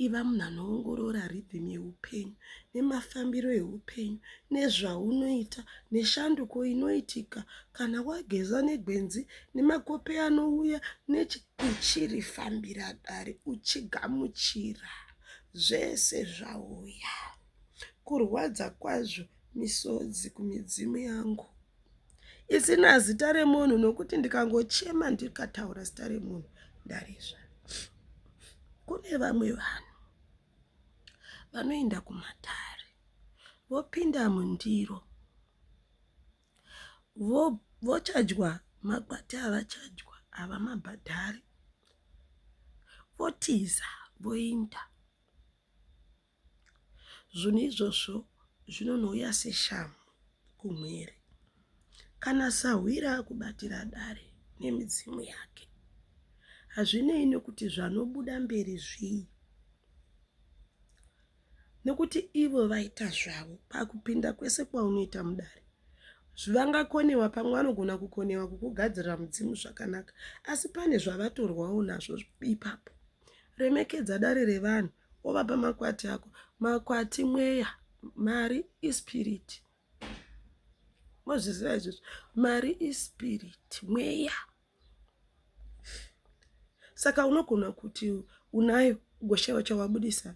iva munhu anoongorora rhythm yeupenyu nemafambiro eupenyu nezvaunoita neshanduko inoitika kana wageza negwenzi nemakope anouya nechi uchirifambira dare uchigamuchira zvese zvauya kurwadza kwazvo misodzi kumidzimu yangu isina zita remunhu nokuti ndikangochema ndikataura zita remunhu ndarizva kune vamwe vanhu vanoenda kumatare vopinda mundiro Vochajwa makwati avachajwa havamabhadhari votiza voinda. Zvinhu izvozvo zvinonouya seshamhu kumhuri kana sahwira akubatira dare nemidzimu yake hazvinei nekuti zvanobuda mberi zvii. nekuti ivo vaita zvavo pakupinda kwese kwaunoita mudare vangakonewa pamwe vanogona kukonewa kukugadzirira mudzimu zvakanaka asi pane zvavatorwawo nazvo ipapo remekedza dare revanhu wovapa makwati ako makwati mweya mari ispirit mozviziva izvozvo mari ispirit mweya saka unogona kuti unayo ugoshaiwa chawabudisa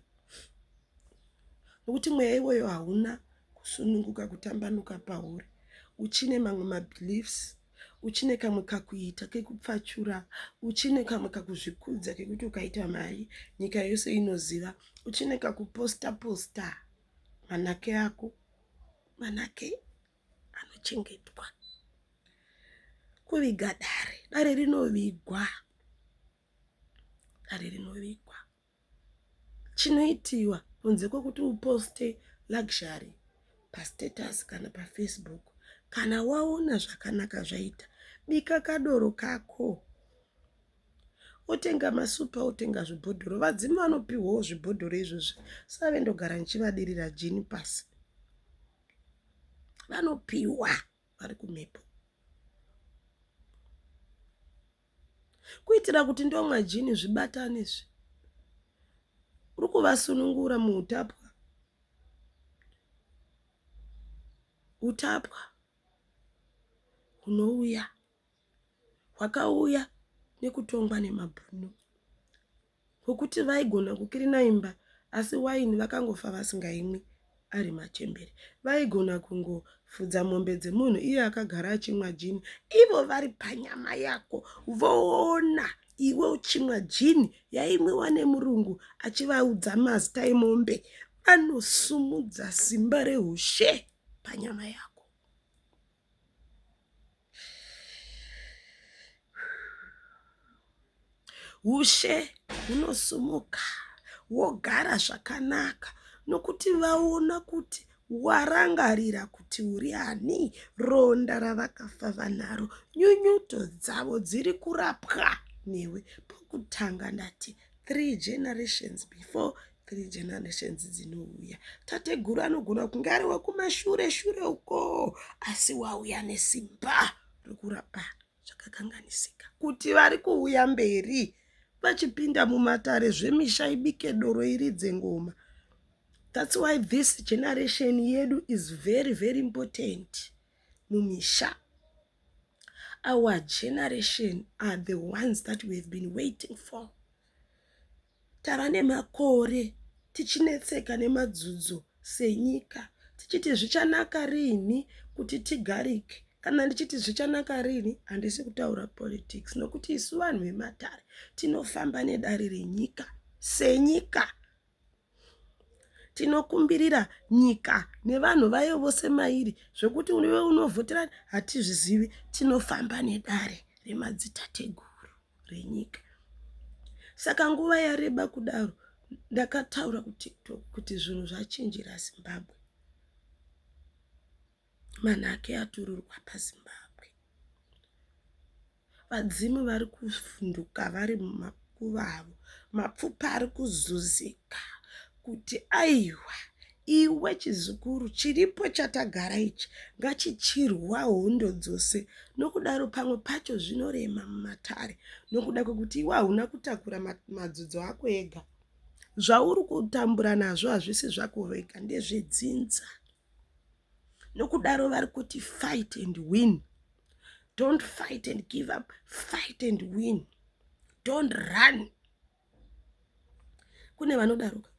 nokuti mweya iwoyo hauna kusununguka kutambanuka pauri uchine mamwe mabeliefs uchine kamwe kakuita kekupfachura uchine kamwe kakuzvikudza kekuti ukaita mari nyika yose inoziva uchine kakuposta posta manake ako manake anochengetwa kuviga dare dare rinovigwa dare rinovigwa chinoitiwa kunze kwekuti uposte luxury pastatus kana pafacebook kana waona zvakanaka zvaita bika kadoro kako otenga masupa otenga zvibhodhoro vadzimu vanopiwawo zvibhodhoro izvozvi save ndogara ndichivadirira jini pasi vanopiwa vari kumhepo kuitira kuti ndomwa jini zvibatane izvi uri kuvasunungura muutapwa utapwa hunouya hwakauya nekutongwa nemabhunu hwekuti vaigona kukirina imba asi waini vakangofa vasingaimwi ari machembere. Vaigona kungofudza mombe dzemunhu iye akagara achimwa jini ivo vari panyama yako voona iwe uchimwa jini yaimwiwa nemurungu achivaudza mazita emombe anosumudza simba rehushe panyama yako Ushe hunosumuka hwogara zvakanaka nokuti vaona kuti warangarira kuti uri ani, ronda ravakafa vanaro, nyunyuto dzavo dziri kurapwa newe pokutanga ndati. three generations before three generations dzinouya tateguru anogona kunge ari wekumashure shure ukoo asi wauya nesimba rekurapa zvakakanganisika kuti vari kuuya mberi vachipinda mumatare zvemisha ibike doro iridze ngoma thats why this generation yedu is very very important mumisha. Our generation are the ones that we have been waiting for. Tava nemakore tichinetseka nemadzudzo senyika tichiti zvichanaka riini kuti tigarike kana ndichiti zvichanaka riini handisi kutaura politics nokuti isu vanhu vematare tinofamba nedare renyika senyika Tinokumbirira nyika nevanhu vayo vose mairi zvekuti iwe unovhotera hatizvizivi tinofamba nedare remadzitateguru renyika saka nguva yareba kudaro ndakataura kutiktok kuti zvinhu zvachinjira zimbabwe manhake atururwa paZimbabwe. Vadzimu vari kuvhunduka vari mumakuva avo. Mapfupa ari kuzuzika kuti aiwa iwe chizukuru chiripo chatagara ichi ngachichirwa hondo dzose nokudaro pamwe pacho zvinorema mumatare nokuda kwekuti iwe hauna kutakura madzodzo ako ega zvauri kutambura nazvo hazvisi zvako wega ndezvedzinza. nokudaro vari kuti fight and win don't fight and give up fight and win don't run kune vanodaroka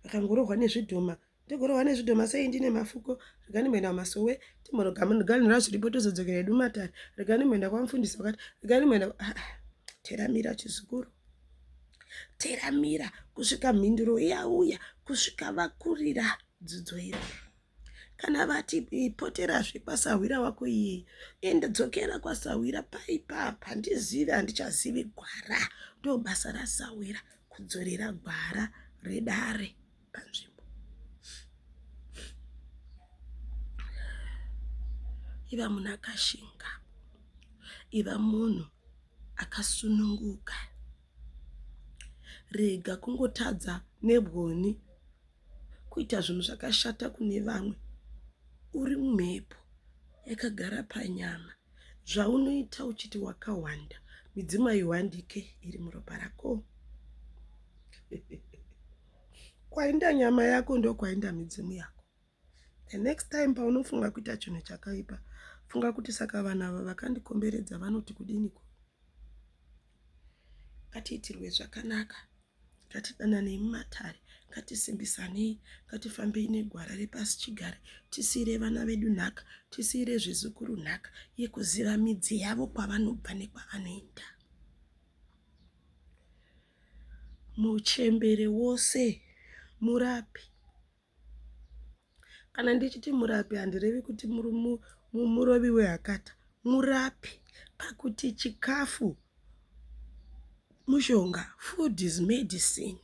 vakangorohwa nezvidhoma togorohwa nezvidhoma sei ndine mafuko regani mboenda kumasowe timbonogamunoganyira zviripo tozodzokera edu matare regani mboenda kwamufundisi wakati regani mboenda ah, ah, teramira chizukuru teramira kusvika mhinduro yauya kusvika vakurira dzidzo iri kana vati poterazve kwasahwira wako iyeyi ende dzokera kwasahwira paipapa handizivi handichazivi gwara ndobasa rasahwira kudzorera gwara redare panzvimbo iva munhu akashinga iva munhu akasununguka rega kungotadza nebwoni kuita zvinhu zvakashata kune vamwe uri mumhepo yakagara panyama zvaunoita uchiti wakawanda midzimu aiwandike iri muropa rako kwainda nyama yako ndokwainda midzimu yako the next time paunofunga kuita chinhu chakaipa funga kuti saka vanhu ava vakandikomberedza vanoti kudiniko ngatiitirwe zvakanaka ngatidananei mumatare ngatisimbisanei ngatifambei negwara repasi chigare tisiire vana vedu nhaka tisiire zvizukuru nhaka yekuziva midzi yavo kwavanobva nekwavanoenda Muchembere wose murapi. Kana ndichiti murapi handirevi kuti murovi wehakata. Murapi pakuti chikafu mushonga, food is medicine.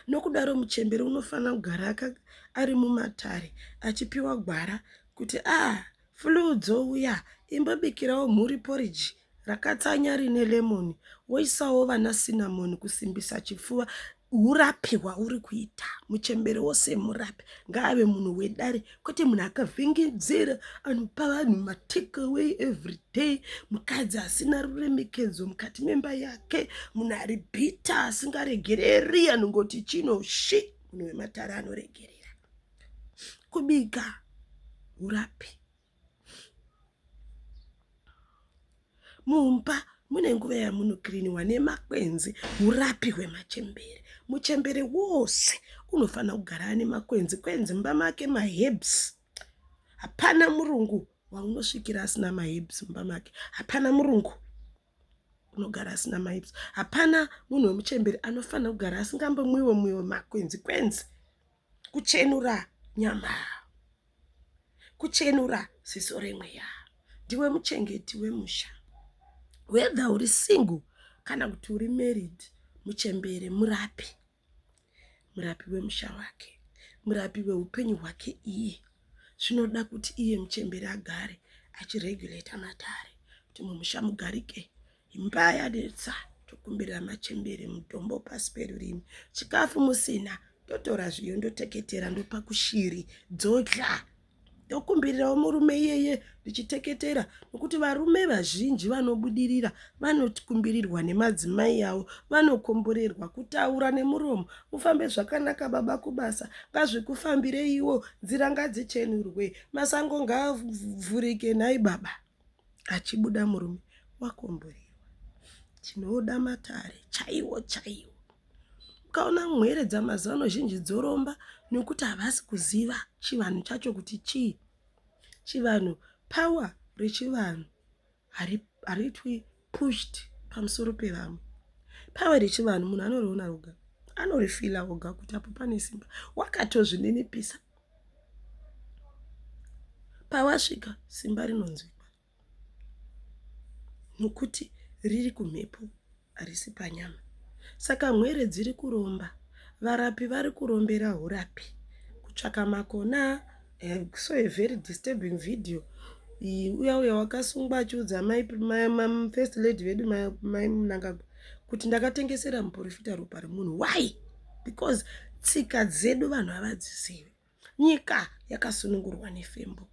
Nokudaro muchembere unofanira kugara ari mumatare achipiwa gwara kuti ah flue dzouya imbobikirawo mhuri porridge rakatsanya rine lemon woisawo vana cinnamon kusimbisa chipfuva hurapi hwauri kuita muchembere wose murapi ngaave munhu wedare kwete munhu akavhengedzera anopa vanhu matakeway everyday mukadzi asina ruremekedzo mukati memba yake munhu ari bhita asingaregereri anongoti chino shi munhu wematare anoregerera kubika hurapi mumba mune nguva yamunokiriniwa nemakwenzi urapi hwemachembere muchembere wose unofanira kugara ane makwenzi kwenzi mumba make mahebs hapana murungu waunosvikira asina mahebs mumba make hapana murungu unogara asina mahebs hapana munhu wemuchembere anofanira kugara asingambomwiwe mwiwe makwenzi kwenzi kuchenura nyama kuchenura ziso remweya ndiwe muchengeti wemusha whether uri single kana kuti uri married muchembere murapi murapi wemusha wake murapi weupenyu hwake iye zvinoda kuti iye muchembere agare achiregulata matare kuti mumusha mugarike imba yanetsa tokumbirira machembere mutombo pasi perurimi chikafu musina totora zviyo ndoteketera ndopa kushiri dzodya ndokumbirirawo murume iyeye ndichiteketera nokuti varume vazhinji vanobudirira vanokumbirirwa nemadzimai avo vanokomborerwa kutaura nemuromo mufambe zvakanaka baba kubasa ngazvikufambireiwo nzira ngadzichenurwe masango ngaavhurike nhai baba achibuda murume wakomborerwa tinoda matare chaiwo chaiwo ukaona mhere dzamazano zhinji dzoromba nokuti havasi kuziva chivanhu chacho kuti chii chivanhu power rechivanhu hariitwi pushed pamusoro pevamwe power rechivanhu munhu anoriona roga anorifila oga kuti apo pane simba wakatozvininipisa pawasvika simba rinonzwikwa nokuti riri kumhepo harisi panyama saka mwere dziri kuromba varapi vari kurombera urapi kutsvaka makona Eh, so a very disturbing video iyi uya uya wakasungwa achiudza amai first lady vedu mai munangagwa kuti ndakatengesera muporofita ropa remunhu why because tsika dzedu vanhu havadzizivi nyika yakasunungurwa nefembo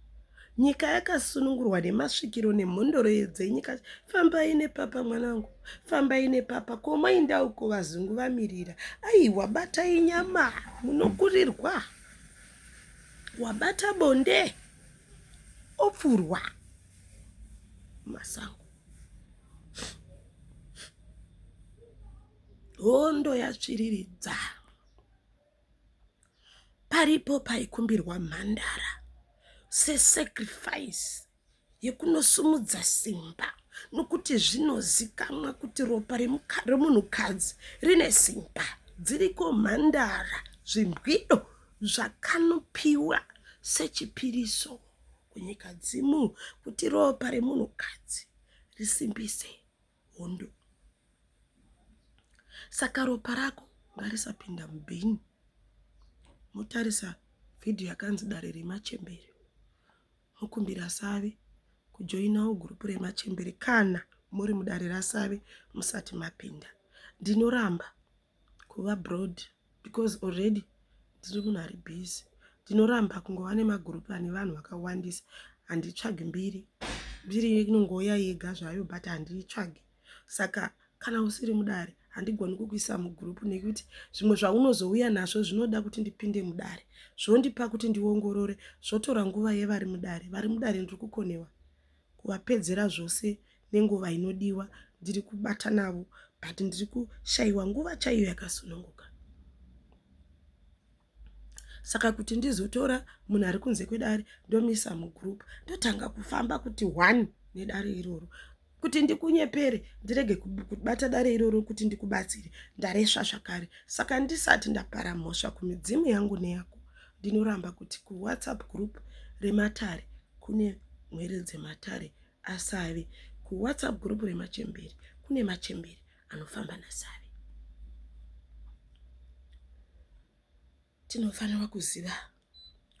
nyika yakasunungurwa nemasvikiro nemhondoro dzenyika fambai nepapa mwanangu fambai nepapa komainda uko vazungu vamirira aiwa batai nyama munokurirwa wabata bonde opfurwa masango hondo yatsviriridza paripo paikumbirwa mhandara sesacrifice yekunosumudza simba nokuti zvinozikamwa kuti ropa remunhukadzi rine simba dziriko mhandara zvimbwido zvakanopiwa sechipiriso kunyika dzimu kuti ropa remunhukadzi risimbise hondo saka ropa rako ngarisapinda mubhini motarisa vhidhiyo yakanzi dare remachembere Mukumbira Save kujoinawo gurupu remachembere kana muri mudare raSave musati mapinda. Ndinoramba kuva broad because already ndiri munhu ari busy. Ndinoramba kungova nemagurupu ane vanhu vakawandisa. Handitsvagi mbiri. Mbiri inongouya yega zvayo but handiitsvagi. saka kana usiri mudare handigoni kukuisa mugroup nekuti zvimwe zvaunozouya nazvo zvinoda kuti ndipinde mudare zvondipa kuti ndiongorore zvotora nguva yevari mudare vari mudare ndiri kukonewa kuvapedzera zvose nenguva inodiwa ndiri kubata navo but ndiri kushayiwa nguva chaiyo yakasununguka saka kuti ndizotora munhu ari kunze kwedare ndomisa mugroup ndotanga kufamba kuti one nedare iroro kuti ndikunyepere ndirege kubata dare iroro kuti ndikubatsire ndaresva zvakare saka ndisati ndapara mhosva kumidzimu yangu neyako ndinoramba kuti kuwhatsapp group rematare kune mwere dzematare asave kuwhatsapp group remachemberi kune machemberi anofamba nasavi tinofanira kuziva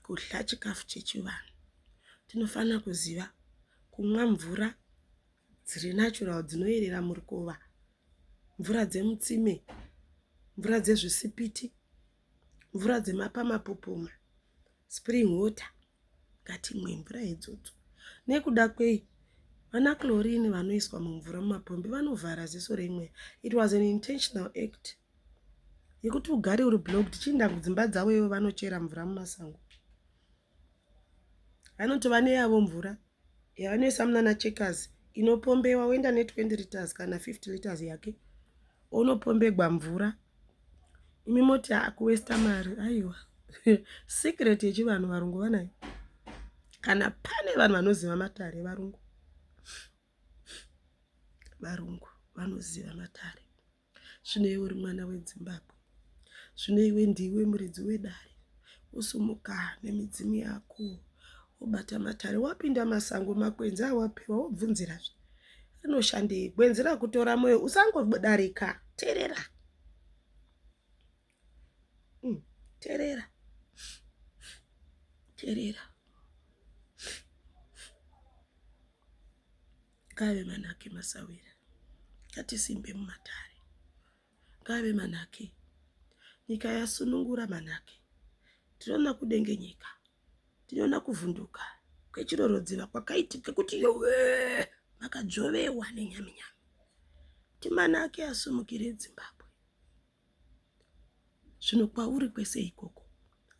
kudya chikafu chechivanhu tinofanira kuziva kumwa mvura dziri natural dzinoyerera murukova mvura dzemutsime mvura dzezvisipiti mvura dzemapamapopoma spring water ngatimwe mvura idzodzo nekuda kwei vana chlorine vanoiswa mumvura mumapombi vanovhara ziso reimwe it was an intentional act yekuti ugare uri blog tichiinda kudzimba dzavo ivo vanochera mvura mumasango vanoti vane yavo mvura yavanoisa munana checkers inopombewa woenda ne 20 litres kana 50 litres yake onopombegwa mvura imi moti akuwesta mari aiwa secret yechivanhu varungu vanayo kana pane vanhu vanoziva matare varungu varungu vanoziva matare Zvino iwe uri mwana wedzimbabwe zvino iwe ndiwe muridzi wedare usumuka nemidzimu yako wobata matare wapinda masango makwenzi awapiwa wobvunzirazve rinoshandei gwenzi rakutora mwoyo usangodarika terera mm, terera terera Ngaave manake masawira, ngatisimbe mumatare. Ngaave manake, nyika yasunungura manake. Tinoona kudengenyeka, tinoona kuvhunduka kwechirorodziva kwakaitika kuti yowe makadzovewa nenyaminyami. Timanake asumukire Zimbabwe. Zvino kwauri kwese ikoko,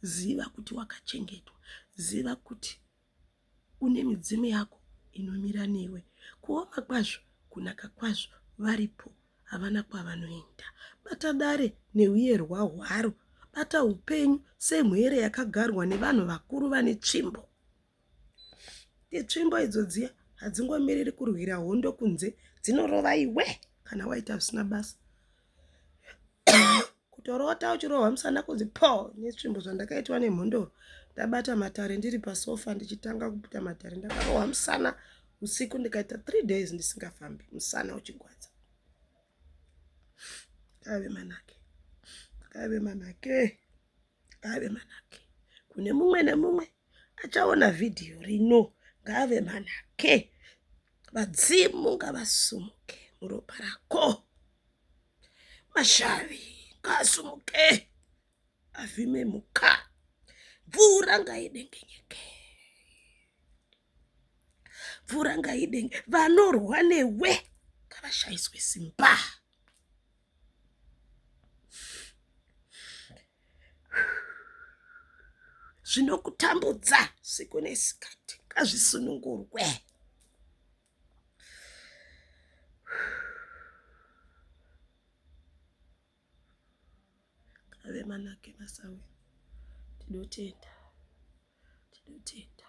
ziva kuti wakachengetwa, ziva kuti une midzimu yako inomira newe kuoma kwazvo kunaka kwazvo varipo havana kwavanoenda bata dare neuyerwa hwaro bata upenyu semhere yakagarwa nevanhu vakuru vane tsvimbo itsvimbo idzo dziya hadzingomiriri kurwira hondo kunze dzinorova iwe kana waita zvisina basa kutorota uchirohwa musana kunzi po netsvimbo zvandakaitwa nemhondoro ndabata matare ndiri pasofa ndichitanga kuputa matare ndakarohwa musana usiku ndikaita three days ndisingafambi musana uchigwadza kave manake kave manake ngaave manake kune mumwe nemumwe achaona vhidhiyo rino ngaave manake vadzimu ngavasumuke muropa rako mashavi ngaasumuke avhime muka mvura ngaidengenyeke mvura ngaidenge vanorwa newe ngavashaiswe simba zvinokutambudza siku nesikati ngazvisunungurwe Ngave manake basa uye tinotenda tinotenda.